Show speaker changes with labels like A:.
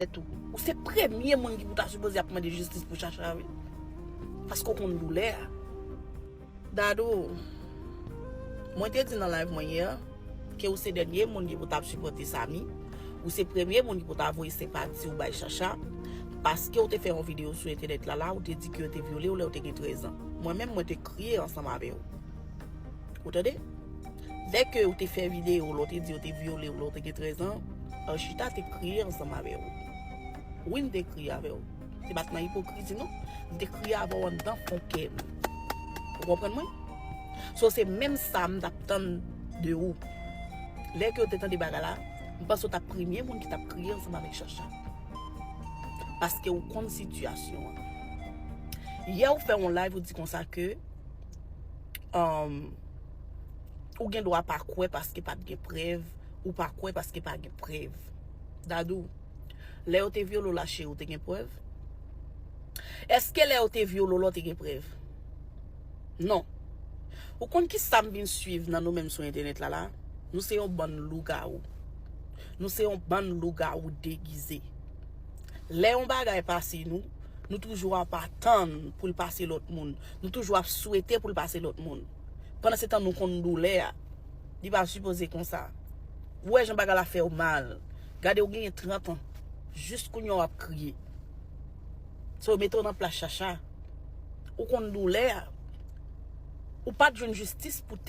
A: tèt ou. Ou se premye moun ki pou ta sipoze ap mande jistis pou Shasha wi. Paske ou konn doulè a. Dadou, mwen te di nan live mwen yè, ke ou se dènye moun ki pou ta ap sipòte Samy, ou se premye moun ki pou ta voye senpati ou bay Shasha, paske ou te fè yon video sou entènèt la la, ou te di ke yo te vyole ou lè ou te gen 13 ans. Mwen menm mwen te kriye ansanm avè ou. Ou tande? Dès que ou te fè vidéo lè w te di yo te vyole w lè w te gen 13 ans, Arshita te kriye ansanm avè w. Wi m te kriye avè w. Se pa t nan ipokrizi non. M te kriye avè w anndan fon kè m. Ou konprann mwen? So se menm sa m t ap tann de ou. Lè ke w te tande bagay la, m panse w t ap premye moun ki t ap kriye ansanm avèk Shasha. Paske ou konn sitiyasyon an. Yè ou fè yon live ou di konsa ke Ou gen dwa pa kwè paske pa t gen prèv, ou pa kwè paske pa gen prèv. Dadou, lè yo te vyole w la cheri ou te gen prèv? Eske lè yo te vyole w la ou te gen prèv? Non. Ou konn kisa m vin suiv nan nou menm sou entènèt la la? Nou se yon bann lougawou. Nou se yon bann lougawou degize. Lè yon bagay pase nou, nou toujou ap atann pou l pase lòt moun. Nou toujou ap swete pou l pase lòt moun. Pandan se tan nou konn doulè a. Li pa sipoze konsa. Ou wè jan bagay la fè w mal. Gade ou genyen 30 an. Jis kounye a w ap kriye. So mete w nan plas Shasha. Ou konn doulè a. Ou pa t jwenn jistis pou tèt.